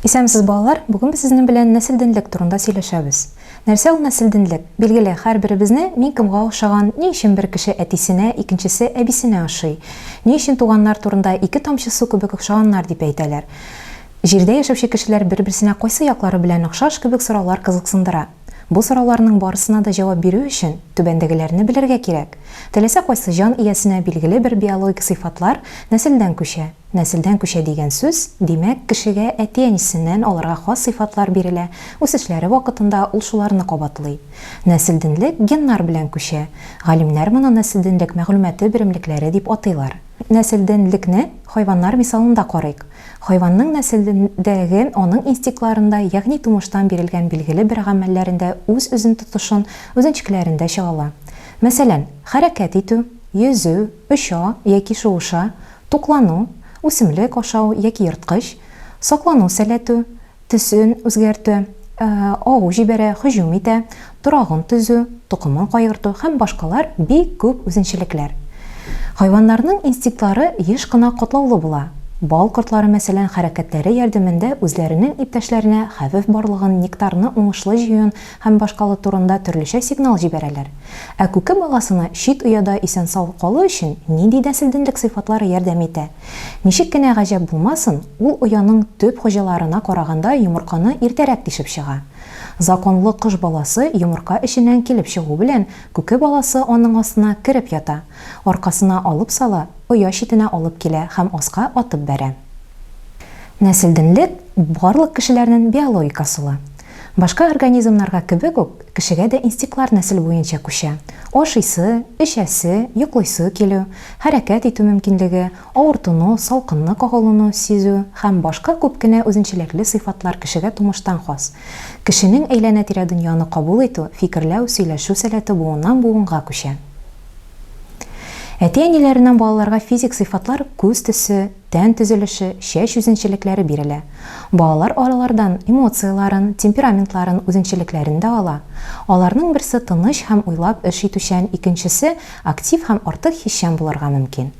Исәнмесез балалар, бүген без сезнең белән нәселдинлек турында сөйләшәбез. Нәрсә ул нәселдинлек? Билгеле, һәрберебезне мин кемгә охшаган, ни өчен бер кеше әтисенә, икенчесе әбисенә ошый? Ни өчен туганнар турында ике тамчы су кебек охшаганнар дип әйтәләр? Җирдә яшәүче кешеләр бер-берсенә кайсы яклары белән охшаш кебек сораулар кызыксындыра. Бу сорауларның барысына да җавап бирү өчен, түбәндәгеләрне белергә кирәк, Теләсә кайсы җан иясенә билгеле бер биологик сыйфатлар нәселдән күчә. Нәселдән күчә дигән сүз, димәк, кешегә әти-әнисеннән аларга хас сыйфатлар бирелә, үсешләре вакытында ул шуларны кабатлый. Нәселденлек геннар белән күчә. Галимнәр моны нәселденлек мәгълүматы беремлекләре дип атыйлар. Нәселденлекне хайваннар мисалында карыйк. Хайванның нәселендәге, аның инстинктларында, ягъни тумыштан бирелгән билгеле бер гамәлләрендә үз-үзен тотышын, үзенчкеләрендә чагыла. Мәсәлән, хәрәкәт итү, йөзү, оча яки шуыша, туклану, үсемлек ашау яки ерткыч, саклану сәләтү, төсен үзгәртү, агу җибәрә, һөҗүм итә, торагын төзү, токымын кайгырту һәм башкалар бик күп үзенчәлекләр. Хайваннарның инстинктлары еш кына катлаулы була. Бал кортлары, мәсәлән, хәрәкәтләре ярдәмендә үзләренең иптәшләренә хәвеф барлыгын, нектарны уңышлы җыюын һәм башкалу турында төрлечә сигнал җибәрәләр. Ә күке баласына чит ояда исән-сау калу өчен нинди нәселденлек сыйфатлары ярдәм итә? Ничек кенә гаҗәп булмасын, ул ояның төп хуҗаларына караганда йомырканы иртәрәк тишеп чыга. Законлы кош баласы йомырка эченнән килеп чыгу белән күке баласы аның астына кереп ята, аркасына алып сала, оя читенә алып килә һәм аска атып бәрә. Нәселденлек, барлык кешеләрнен биологик асылы. Башка организмнарга кебек үк, кешегә дә инстиклар нәсел буенча күчә. Ашыйсы, эчәсе, йоклыйсы килү, хәрәкәт итү мөмкинлеге, авыртыну, салкынны кагылуны сизү һәм башка күп кенә үзенчәлекле сыйфатлар кешегә тумыштан хас. Кешенең әйләнә-тирә дөньяны кабул итү, фикерләү, сөйләшү сәләте буыннан-буынга күчә. Әти-әниләреннән балаларга физик сыйфатлар, күз төсе, тән төзелеше, чәч үзенчәлекләре бирелә. Балалар аралардан эмоцияләрен, темпераментларын, үзенчәлекләрен дә ала. Аларның берсе тыныч һәм уйлап эш итүчән, икенчесе актив һәм артык хисчән булырга мөмкин.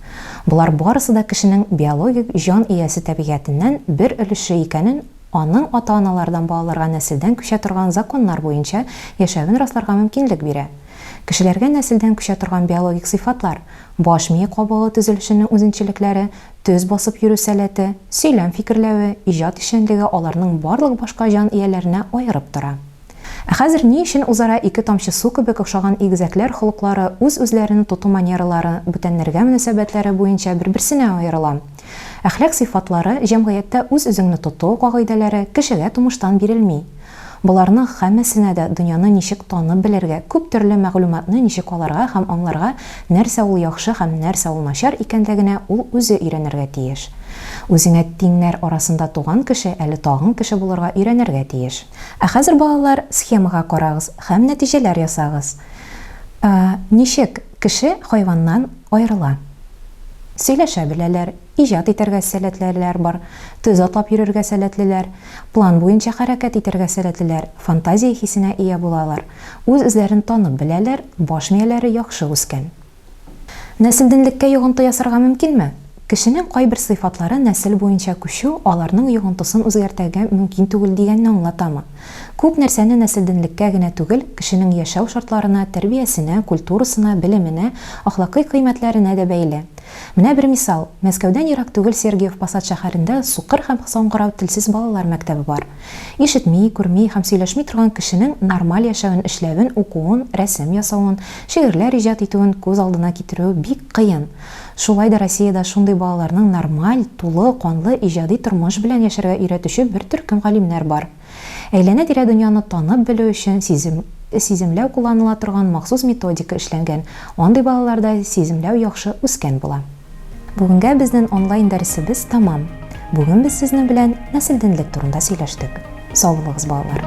Болар барысы да кешенең биологик җан иясе табигатеннән бер өлеше икәнен аның ата-аналардан балаларга нәселдән күчә торган законнар буенча яшәвен расларга мөмкинлек бирә. Кешеләргә нәселдән күчә торган биологик сыйфатлар, Баш мие кабыгы төзелешенең үзенчәлекләре, төз басып йөрү сәләте, сөйләм фикерләве, иҗат эшчәнлеге аларның барлык башка җан ияләренә аерып тора. Ә хәзер ни өчен үзара ике тамчы су кебек охшаган игезәкләр холыклары, үз-үзләрен тоту манералары, бүтәннәргә мөнәсәбәтләре буенча бер-берсенә аерыла? Әхлак сыйфатлары, җәмгыятьтә үз-үзеңне тоту кагыйдәләре кешегә тумыштан бирелми. Боларның һәммәсенә дә дөньяны ничек танып белергә, күп төрле мәгълүматны ничек алырга һәм аңларга, нәрсә ул яхшы һәм нәрсә ул начар икәнлегенә ул үзе өйрәнергә тиеш. Үзеңә тиңнәр арасында туган кеше әле тагын кеше булырга өйрәнергә тиеш. Ә хәзер, балалар, схемага карагыз һәм нәтиҗәләр ясагыз. Ә, ничек? Кеше хайваннан аерыла. Сөйләшә беләләр, иҗат итәргә сәләтлеләр бар, төз атлап йөрергә сәләтлеләр, план буенча хәрәкәт итәргә сәләтлеләр, фантазия хисенә ия булалар, үз-үзләрен танып беләләр, баш мияләре яхшы үскән. Нәселдинлеккә йогынты ясарга мөмкинме? Кешенең кайбер сыйфатлары нәсел буенча күчү аларның йогынтысын үзгәртәргә мөмкин түгел дигәнне аңлатамы? Күп нәрсәне нәселдәнлеккә генә түгел, кешенең яшәү шартларына, тәрбиясенә, культурасына, белеменә, әхлакый кыйммәтләренә дә бәйле. Менә бер мисал. Мәскәүдән ерак түгел Сергиев Посад шәһәрендә сукыр һәм саңгырау телсез балалар мәктәбе бар. Ишетми, күрми һәм сөйләшми торган кешенең нормаль яшәвен, эшләвен, укуын, рәсем ясавын, шигырьләр иҗат итүен күз алдына китерү бик кыен. Шулай да Россиядә шундый балаларның нормаль, тулы канлы иҗади тормыш белән яшәргә өйрәтүче бер төркем галимнәр бар. Әйләнә-тирә дөньяны танып белү өчен сизем, сиземләү кулланыла торган махсус методика эшләнгән, андый балаларда сиземләү яхшы үскән була. Бүгенгә безнен онлайн дәресебез тәмам. Бүген без сезнең белән нәселденлек турында сөйләштек. Сау булыгыз, балалар!